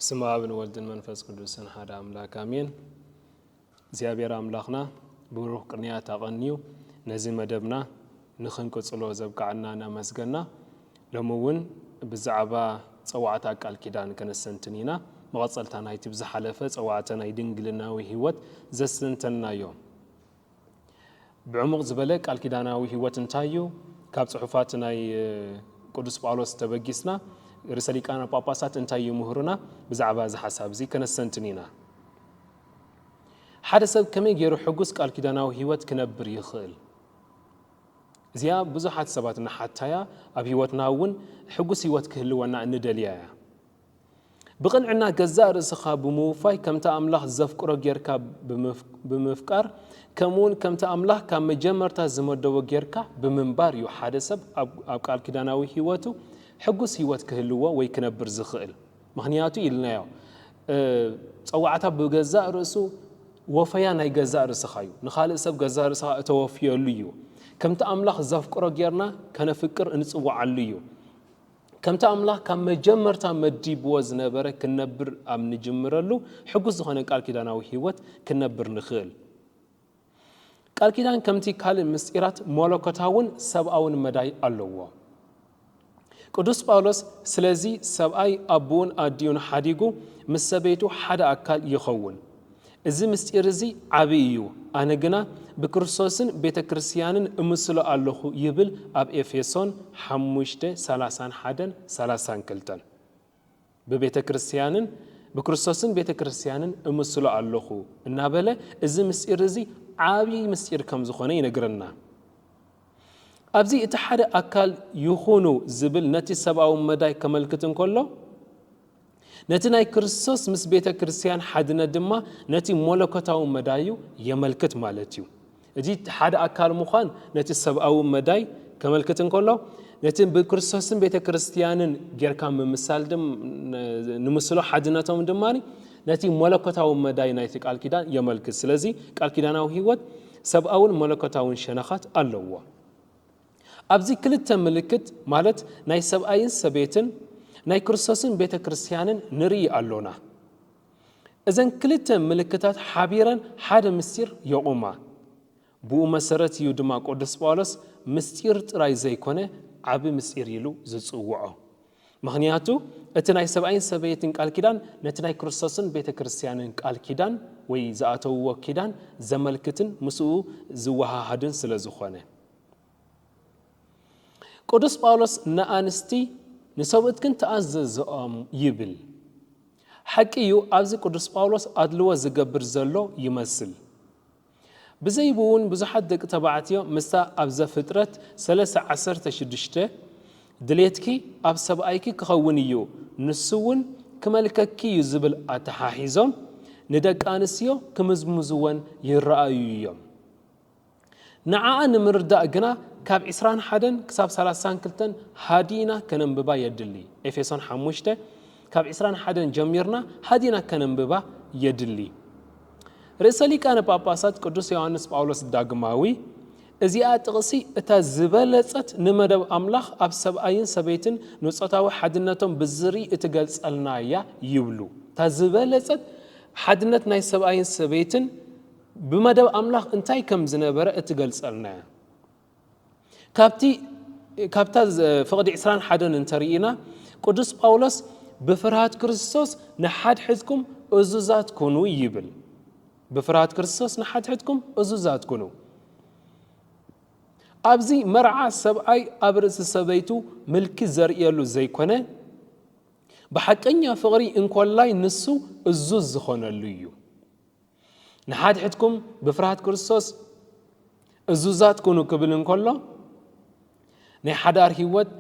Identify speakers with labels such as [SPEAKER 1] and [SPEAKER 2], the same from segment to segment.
[SPEAKER 1] ስም ኣብን ወልድን መንፈስ ቅዱስን ሓደ ኣምላክ ኣሜን። እግዚኣብሔር ኣምላክና ብሩክ ቅንያት ኣቐንዩ ነዚ መደብና ንኽንቅጽሎ ዘብቃዓና እናመስገና ሎሚ ውን ብዛዕባ ጸዋዕታ ቃል ኪዳን ከነስተንትን ኢና። መቐጸልታ ናይቲ ብዝሓለፈ ጸዋዕተ ናይ ድንግልናዊ ሕይወት ዘስተንተንናዮ ብዕሙቕ ዝበለ ቃል ኪዳናዊ ሕይወት እንታይ እዩ? ካብ ጽሑፋት ናይ ቅዱስ ጳውሎስ ተበጊስና ርእሰ ሊቃነ ጳጳሳት እንታይ ይምህሩና? ብዛዕባ እዚ ሓሳብ እዚ ከነስተንትን ኢና። ሓደ ሰብ ከመይ ገይሩ ሕጉስ ቃል ኪዳናዊ ሕይወት ክነብር ይኽእል? እዚኣ ብዙሓት ሰባት እንሓታያ ኣብ ህይወትና እውን ሕጉስ ህይወት ክህልወና እንደልያ እያ። ብቕንዕና ገዛእ ርእስኻ ብምውፋይ ከምቲ ኣምላኽ ዘፍቅሮ ጌርካ ብምፍቃር ከምኡውን ከምቲ ኣምላኽ ካብ መጀመርታ ዝመደቦ ጌርካ ብምንባር እዩ ሓደ ሰብ ኣብ ቃል ኪዳናዊ ህይወቱ ሕጉስ ህይወት ክህልዎ ወይ ክነብር ዝኽእል። ምኽንያቱ ኢልናዮ ጸዋዕታ ብገዛእ ርእሱ ወፈያ ናይ ገዛእ ርእስኻ እዩ። ንኻልእ ሰብ ገዛእ ርእስኻ እተወፍየሉ እዩ። ከምቲ ኣምላኽ ዘፍቅሮ ጌርና ከነፍቅር እንጽዋዓሉ እዩ። ከምቲ ኣምላኽ ካብ መጀመርታ መዲብዎ ዝነበረ ክንነብር ኣብ ንጅምረሉ ሕጉስ ዝኾነ ቃል ኪዳናዊ ህይወት ክንነብር ንኽእል። ቃል ኪዳን ከምቲ ካልእ ምስጢራት መለኮታውን ሰብኣውን መዳይ ኣለዎ። ቅዱስ ጳውሎስ ስለዚ ሰብኣይ ኣቦኡን ኣዲኡን ሓዲጉ ምስ ሰበይቱ ሓደ ኣካል ይኸውን እዚ ምስጢር እዚ ዓቢ እዩ ኣነ ግና ብክርስቶስን ቤተ ክርስቲያንን እምስሎ ኣለኹ ይብል ኣብ ኤፌሶን ሓሙሽተ ሰላሳን ሓደን ሰላሳን ክልተን ብቤተ ክርስትያንን ብክርስቶስን ቤተ ክርስትያንን እምስሎ ኣሎኹ እናበለ እዚ ምስጢር እዚ ዓብዪ ምስጢር ከም ዝኾነ ይነግረና። ኣብዚ እቲ ሓደ ኣካል ይኹኑ ዝብል ነቲ ሰብኣዊ መዳይ ከመልክት እንከሎ ነቲ ናይ ክርስቶስ ምስ ቤተ ክርስትያን ሓድነት ድማ ነቲ መለኮታዊ መዳዩ የመልክት ማለት እዩ። እቲ ሓደ ኣካል ምዃን ነቲ ሰብኣዊ መዳይ ከመልክት እንከሎ፣ ነቲ ብክርስቶስን ቤተ ክርስትያንን ጌርካ ምምሳል ድም ንምስሎ ሓድነቶም ድማ ነቲ መለኮታዊ መዳይ ናይቲ ቃል ኪዳን የመልክት። ስለዚ ቃል ኪዳናዊ ህይወት ሰብኣውን መለኮታውን ሸነኻት ኣለዎ። ኣብዚ ክልተ ምልክት ማለት ናይ ሰብኣይን ሰበይትን ናይ ክርስቶስን ቤተ ክርስትያንን ንርኢ ኣሎና። እዘን ክልተ ምልክታት ሓቢረን ሓደ ምስጢር የቑማ። ብኡ መሰረት እዩ ድማ ቅዱስ ጳውሎስ ምስጢር ጥራይ ዘይኮነ ዓቢ ምስጢር ኢሉ ዝጽውዖ። ምኽንያቱ እቲ ናይ ሰብኣይን ሰበይትን ቃል ኪዳን ነቲ ናይ ክርስቶስን ቤተ ክርስቲያንን ቃል ኪዳን ወይ ዝኣተውዎ ኪዳን ዘመልክትን ምስኡ ዝወሃሃድን ስለ ዝኾነ። ቅዱስ ጳውሎስ ንኣንስቲ ንሰብኡትክን ተኣዘዝኦም ይብል። ሓቂ እዩ ኣብዚ ቅዱስ ጳውሎስ ኣድልዎ ዝገብር ዘሎ ይመስል። ብዘይብውን ብዙሓት ደቂ ተባዕትዮ ምስታ ኣብ ዘፍጥረት ሰለስተ ዓሰርተ ሽዱሽተ ድሌትኪ ኣብ ሰብኣይኪ ክኸውን እዩ ንሱ እውን ክመልከኪ እዩ ዝብል ኣተሓሒዞም ንደቂ ኣንስትዮ ክምዝምዝወን ይረኣዩ እዮም። ንዓኣ ንምርዳእ ግና ካብ ዕስራን ሓደን ክሳብ ሰላሳን ክልተን ሃዲእና ከነንብባ የድሊ። ኤፌሶን ሓሙሽተ ካብ ዕስራን ሓደን ጀሚርና ሃዲእና ከነንብባ የድሊ። ርእሰ ሊቃነ ጳጳሳት ቅዱስ ዮሐንስ ጳውሎስ ዳግማዊ እዚኣ ጥቕሲ እታ ዝበለጸት ንመደብ ኣምላኽ ኣብ ሰብኣይን ሰበይትን ንጾታዊ ሓድነቶም ብዝርኢ እትገልጸልና እያ ይብሉ። እታ ዝበለጸት ሓድነት ናይ ሰብኣይን ሰበይትን ብመደብ ኣምላኽ እንታይ ከም ዝነበረ እትገልጸልና እያ። ካብቲ ካብታ ፍቕዲ ዕስራን ሓደን እንተርኢና ቅዱስ ጳውሎስ ብፍርሃት ክርስቶስ ንሓድሕድኩም እዙዛት ኩኑ ይብል። ብፍርሃት ክርስቶስ ንሓድሕድኩም እዙዛት ኩኑ። ኣብዚ መርዓ ሰብኣይ ኣብ ርእሲ ሰበይቱ ምልኪ ዘርእየሉ ዘይኮነ ብሓቀኛ ፍቕሪ እንኮላይ ንሱ እዙዝ ዝኾነሉ እዩ። ንሓድሕድኩም ብፍርሃት ክርስቶስ እዙዛት ኩኑ ክብል እንከሎ ናይ ሓዳር ህይወት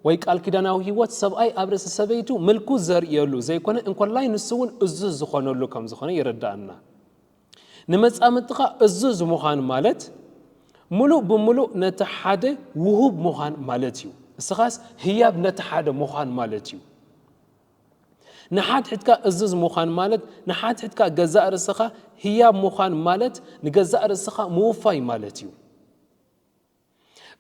[SPEAKER 1] ወይ ቃል ኪዳናዊ ህይወት ሰብኣይ ኣብ ርእሲ ሰበይቱ ምልኩ ዘርእየሉ ዘይኮነ እንኮላይ ንሱ እውን እዙዝ ዝኾነሉ ከም ዝኾነ ይረዳእና ንመፃምድትኻ እዙዝ ምዃን ማለት ምሉእ ብምሉእ ነቲ ሓደ ውሁብ ምዃን ማለት እዩ እስኻስ ህያብ ነቲ ሓደ ምዃን ማለት እዩ ንሓድሕድካ እዝዝ ምዃን ማለት ንሓድሕድካ ገዛእ ርእስኻ ህያብ ምዃን ማለት ንገዛእ ርእስኻ ምውፋይ ማለት እዩ።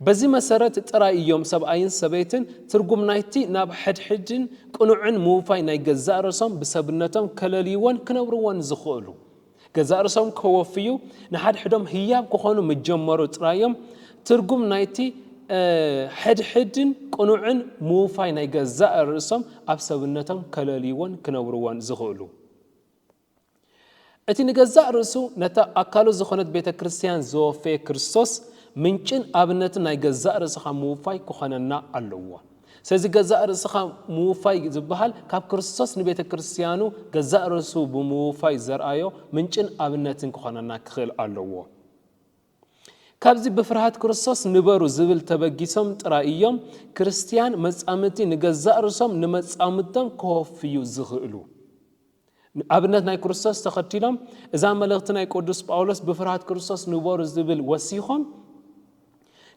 [SPEAKER 1] በዚ መሰረት ጥራይ እዮም ሰብኣይን ሰበይትን ትርጉም ናይቲ ናብ ሕድሕድን ቅኑዕን ምውፋይ ናይ ገዛእ ርእሶም ብሰብነቶም ከለልይዎን ክነብርዎን ዝኽእሉ። ገዛእ ርእሶም ከወፍዩ ንሓድሕዶም ህያብ ክኾኑ ምስ ጀመሩ ጥራይ'ዮም ትርጉም ናይቲ ሕድሕድን ቅኑዕን ምውፋይ ናይ ገዛእ ርእሶም ኣብ ሰብነቶም ከለልይዎን ክነብርዎን ዝኽእሉ። እቲ ንገዛእ ርእሱ ነታ ኣካሉ ዝኾነት ቤተ ክርስቲያን ዘወፈየ ክርስቶስ ምንጭን ኣብነትን ናይ ገዛእ ርእስኻ ምውፋይ ክኾነና ኣለዎ። ስለዚ ገዛእ ርእስኻ ምውፋይ ዝበሃል ካብ ክርስቶስ ንቤተ ክርስትያኑ ገዛእ ርእሱ ብምውፋይ ዘርኣዮ ምንጭን ኣብነትን ክኾነና ክኽእል ኣለዎ። ካብዚ ብፍርሃት ክርስቶስ ንበሩ ዝብል ተበጊሶም ጥራይ እዮም ክርስትያን መጻምድቲ ንገዛእ ርእሶም ንመጻምድቶም ከወፍዩ ዝኽእሉ። ኣብነት ናይ ክርስቶስ ተኸቲሎም እዛ መልእኽቲ ናይ ቅዱስ ጳውሎስ ብፍርሃት ክርስቶስ ንበሩ ዝብል ወሲኾም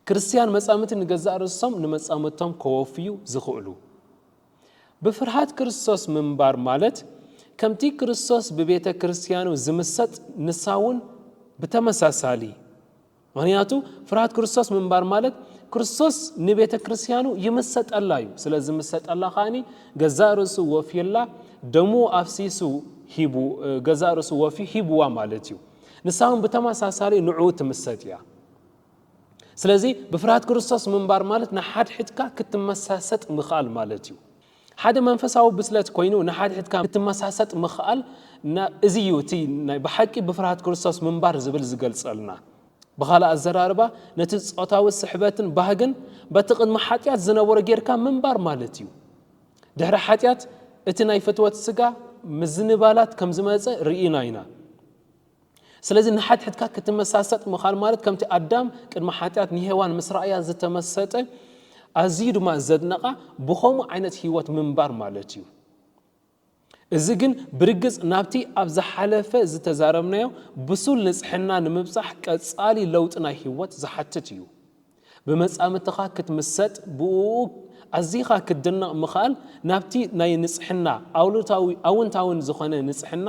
[SPEAKER 1] ክርስትያን መጻምቲ ንገዛእ ርእሶም ንመጻምቶም ከወፍዩ ዝኽእሉ ብፍርሃት ክርስቶስ ምንባር ማለት ከምቲ ክርስቶስ ብቤተ ክርስትያኑ ዝምሰጥ ንሳውን ብተመሳሳሊ ምኽንያቱ ፍርሃት ክርስቶስ ምንባር ማለት ክርስቶስ ንቤተ ክርስቲያኑ ይምሰጠላ እዩ። ስለ ዝምሰጠላ ከኣኒ ገዛእ ርእሱ ወፍዩላ ደሙ ኣፍሲሱ ሂቡ ገዛእ ርእሱ ወፍዩ ሂብዋ ማለት እዩ። ንሳ እውን ብተመሳሳሊ ንዕኡ ትምሰጥ እያ። ስለዚ ብፍርሃት ክርስቶስ ምንባር ማለት ንሓድሕድካ ክትመሳሰጥ ምኽኣል ማለት እዩ። ሓደ መንፈሳዊ ብስለት ኮይኑ ንሓድሕድካ ክትመሳሰጥ ምኽኣል እዚ እዩ እቲ ናይ ብሓቂ ብፍርሃት ክርስቶስ ምንባር ዝብል ዝገልጸልና። ብኻልእ ኣዘራርባ ነቲ ጾታዊ ስሕበትን ባህግን በቲ ቅድሚ ሓጢኣት ዝነበሮ ጌርካ ምንባር ማለት እዩ። ድሕሪ ሓጢኣት እቲ ናይ ፍትወት ስጋ ምዝንባላት ከም ዝመጸ ርኢና ኢና። ስለዚ ንሓድሕድካ ክትመሳሰጥ ምኻል ማለት ከምቲ ኣዳም ቅድሚ ሓጢኣት ንሄዋን ምስ ረኣያ ዝተመሰጠ ኣዝዩ ድማ ዘድነቓ ብኸምኡ ዓይነት ህይወት ምንባር ማለት እዩ። እዚ ግን ብርግጽ ናብቲ ኣብ ዝሓለፈ ዝተዛረብናዮ ብሱል ንጽሕና ንምብጻሕ ቀጻሊ ለውጢ ናይ ህይወት ዝሓትት እዩ። ብመጻምድትኻ ክትምሰጥ ብኡኡ ኣዚኻ ክትድነቕ ምኽኣል ናብቲ ናይ ንጽሕና ኣሉታዊ ኣውንታዊን ዝኾነ ንጽሕና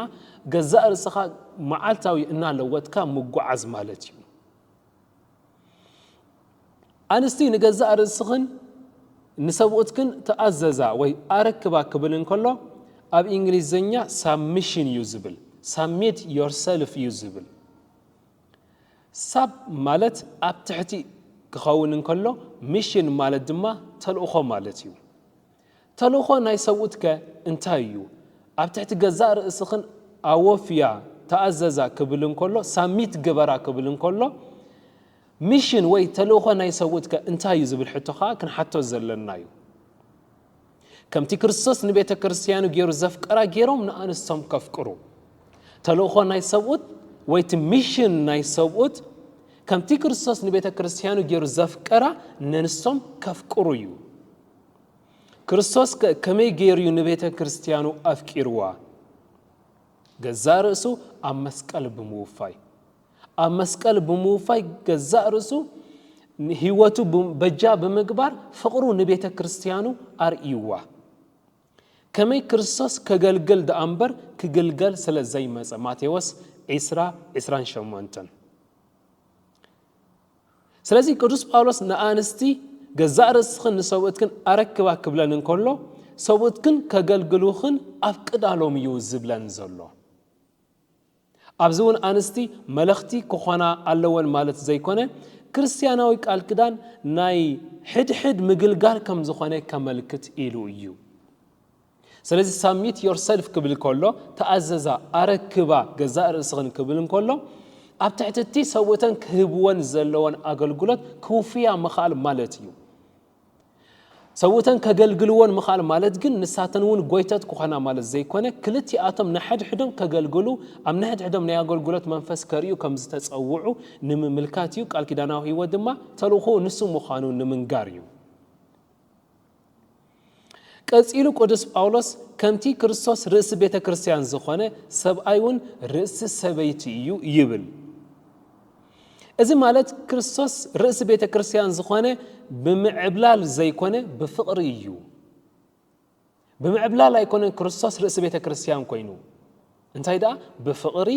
[SPEAKER 1] ገዛእ ርእስኻ መዓልታዊ እናለወጥካ ምጉዓዝ ማለት እዩ። ኣንስቲ ንገዛእ ርእስኽን ንሰብኡትክን ተኣዘዛ ወይ ኣረክባ ክብል እንከሎ ኣብ ኢንግሊዘኛ ሳብሚሽን እዩ ዝብል ሳሚት ዮርሰልፍ እዩ ዝብል ሳብ ማለት ኣብ ትሕቲ ክኸውን እንከሎ ሚሽን ማለት ድማ ተልእኾ ማለት እዩ። ተልእኾ ናይ ሰብኡት ከ እንታይ እዩ? ኣብ ትሕቲ ገዛእ ርእስኽን ኣወፍያ፣ ተኣዘዛ፣ ክብል እንከሎ፣ ሳሚት ግበራ ክብል እንከሎ፣ ሚሽን ወይ ተልእኾ ናይ ሰብኡት ከ እንታይ እዩ ዝብል ሕቶ ከኣ ክንሓቶ ዘለና'ዩ። ከምቲ ክርስቶስ ንቤተ ክርስትያኑ ገይሩ ዘፍቀራ ገይሮም ንኣንስቶም ከፍቅሩ ተልእኾ ናይ ሰብኡት ወይ እቲ ሚሽን ናይ ሰብኡት ከምቲ ክርስቶስ ንቤተ ክርስትያኑ ገይሩ ዘፍቀራ ነንስቶም ከፍቅሩ እዩ ክርስቶስ ከመይ ገይሩ እዩ ንቤተ ክርስትያኑ ኣፍቂርዋ ገዛ ርእሱ ኣብ መስቀል ብምውፋይ ኣብ መስቀል ብምውፋይ ገዛእ ርእሱ ህይወቱ በጃ ብምግባር ፍቕሩ ንቤተ ክርስቲያኑ ኣርእይዋ። ከመይ ክርስቶስ ከገልግል ደኣ እምበር ክግልገል ስለ ዘይመጸ ማቴዎስ ዒስራ ዒስራን ሸሞንተን ስለዚ ቅዱስ ጳውሎስ ንኣንስቲ ገዛእ ርእስኽን ንሰብኡትክን ኣረክባ ክብለን እንከሎ ሰብኡትክን ከገልግሉኽን ኣፍቅዳሎም እዩ ዝብለን ዘሎ። ኣብዚ እውን ኣንስቲ መለኽቲ ክኾና ኣለወን ማለት ዘይኮነ፣ ክርስትያናዊ ቃል ኪዳን ናይ ሕድሕድ ምግልጋል ከም ዝኾነ ከመልክት ኢሉ እዩ። ስለዚ ሳሚት ዮርሰልፍ ክብል ከሎ ተኣዘዛ፣ ኣረክባ ገዛእ ርእስኽን ክብል እንከሎ ኣብ ትሕቲ እቲ ሰብኡተን ክህብወን ዘለወን ኣገልግሎት ክውፍያ ምኽኣል ማለት እዩ። ሰብኡተን ከገልግልዎን ምኽኣል ማለት ግን ንሳተን እውን ጐይቶት ክኾና ማለት ዘይኮነ፣ ክልቲኣቶም ንሓድሕዶም ከገልግሉ፣ ኣብ ንሕድሕዶም ናይ ኣገልግሎት መንፈስ ከርእዩ ከም ዝተጸውዑ ንምምልካት እዩ፣ ቃል ኪዳናዊ ህይወት ድማ ተልእኾኡ ንሱ ምዃኑ ንምንጋር እዩ። ቀጺሉ ቅዱስ ጳውሎስ ከምቲ ክርስቶስ ርእሲ ቤተ ክርስቲያን ዝኾነ ሰብኣይ እውን ርእሲ ሰበይቲ እዩ ይብል። እዚ ማለት ክርስቶስ ርእሲ ቤተ ክርስቲያን ዝኾነ ብምዕብላል ዘይኮነ ብፍቕሪ እዩ። ብምዕብላል ኣይኮነን ክርስቶስ ርእሲ ቤተ ክርስቲያን ኮይኑ እንታይ ደኣ ብፍቕሪ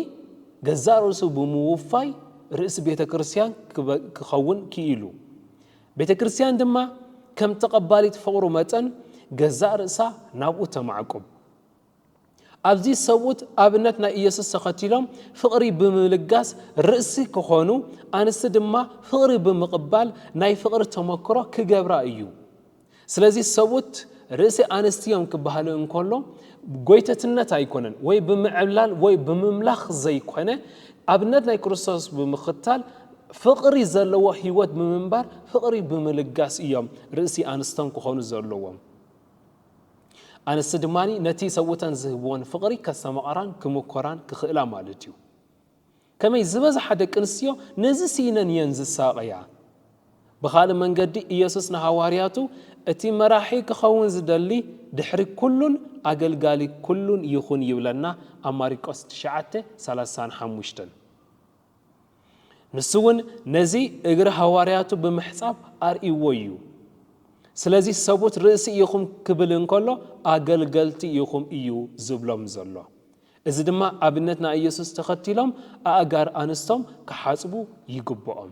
[SPEAKER 1] ገዛእ ርእሱ ብምውፋይ ርእሲ ቤተ ክርስቲያን ክኸውን ክኢሉ ቤተ ክርስቲያን ድማ ከም ተቐባሊት ፍቕሩ መጠን ገዛእ ርእሳ ናብኡ ተማዕቁብ ኣብዚ ሰብኡት ኣብነት ናይ ኢየሱስ ተኸቲሎም ፍቕሪ ብምልጋስ ርእሲ ክኾኑ፣ ኣንስቲ ድማ ፍቕሪ ብምቕባል ናይ ፍቕሪ ተመክሮ ክገብራ እዩ። ስለዚ ሰብኡት ርእሲ ኣንስቲ እዮም ክበሃሉ እንከሎ ጎይተትነት ኣይኮነን ወይ ብምዕብላል ወይ ብምምላኽ ዘይኮነ ኣብነት ናይ ክርስቶስ ብምኽታል ፍቕሪ ዘለዎ ህይወት ብምንባር ፍቕሪ ብምልጋስ እዮም ርእሲ ኣንስቶም ክኾኑ ዘለዎም። ኣንስቲ ድማ ነቲ ሰብኡተን ዝህብወን ፍቕሪ ከስተማቕራን ክምኰራን ክኽእላ ማለት እዩ። ከመይ ዝበዝሓ ደቂ ኣንስትዮ ነዚ ስኢነን እየን ዝሳቐያ? ብኻልእ መንገዲ ኢየሱስ ንሃዋርያቱ እቲ መራሒ ክኸውን ዝደሊ ድሕሪ ኩሉን ኣገልጋሊ ኩሉን ይኹን ይብለና ኣብ ማሪቆስ ትሽዓተ ሰላሳን ሓሙሽተን። ንሱ እውን ነዚ እግሪ ሃዋርያቱ ብምሕጻብ ኣርእይዎ እዩ። ስለዚ ሰቡት ርእሲ ኢኹም ክብል እንከሎ ኣገልገልቲ ኢኹም እዩ ዝብሎም ዘሎ። እዚ ድማ ኣብነት ናይ ኢየሱስ ተኸቲሎም ኣእጋር ኣንስቶም ክሓጽቡ ይግብኦም።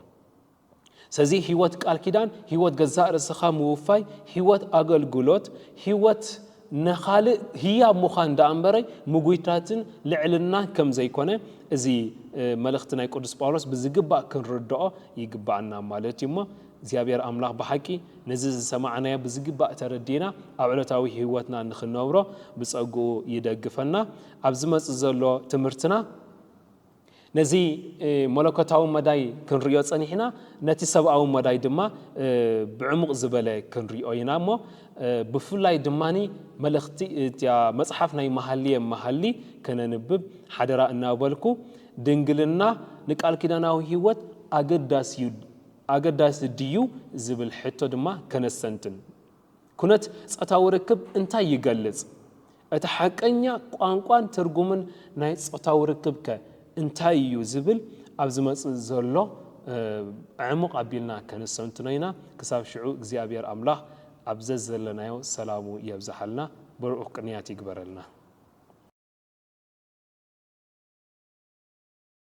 [SPEAKER 1] ሰዚ ሕይወት ቃል ኪዳን ሕይወት ገዛእ ርእስኻ ምውፋይ ሕይወት ኣገልግሎት ሕይወት ነኻልእ ህያብ ምዃን ደኣ እምበረይ ምጉይታትን ልዕልናን ከም ዘይኮነ እዚ መልእኽቲ ናይ ቅዱስ ጳውሎስ ብዝግባእ ክንርድኦ ይግባኣና ማለት እዩ እሞ እግዚኣብሔር ኣምላኽ ብሓቂ ነዚ ዝሰማዕናዮ ብዝግባእ ተረዲና ኣብ ዕለታዊ ሕይወትና ንክነብሮ ብጸግኡ ይደግፈና ኣብ ዝመጽእ ዘሎ ትምህርትና ነዚ መለኮታዊ መዳይ ክንርእዮ ጸኒሕና ነቲ ሰብኣዊ መዳይ ድማ ብዕሙቕ ዝበለ ክንርእዮ ኢና እሞ ብፍላይ ድማ መልእኽቲ እታ መጽሓፍ ናይ መሃልየ መሃሊ ከነንብብ ሓደራ እናበልኩ ድንግልና ንቃል ኪዳናዊ ሕይወት ኣገዳሲ ድዩ ዝብል ሕቶ ድማ ከነስተንትን ኩነት ጾታዊ ርክብ እንታይ ይገልጽ? እቲ ሓቀኛ ቋንቋን ትርጉምን ናይ ጾታዊ ርክብከ እንታይ ኢዩ ዝብል ኣብ ዝመጽእ ዘሎ ኣዕሙቕ ኣቢልና ከነስተንትኖ ኢና። ክሳብ ሽዑ እግዚኣብሔር ኣምላኽ ኣብ ዘዘለናዮ ሰላሙ የብዝሓልና ብሩኡክ ቅንያት ይግበረልና።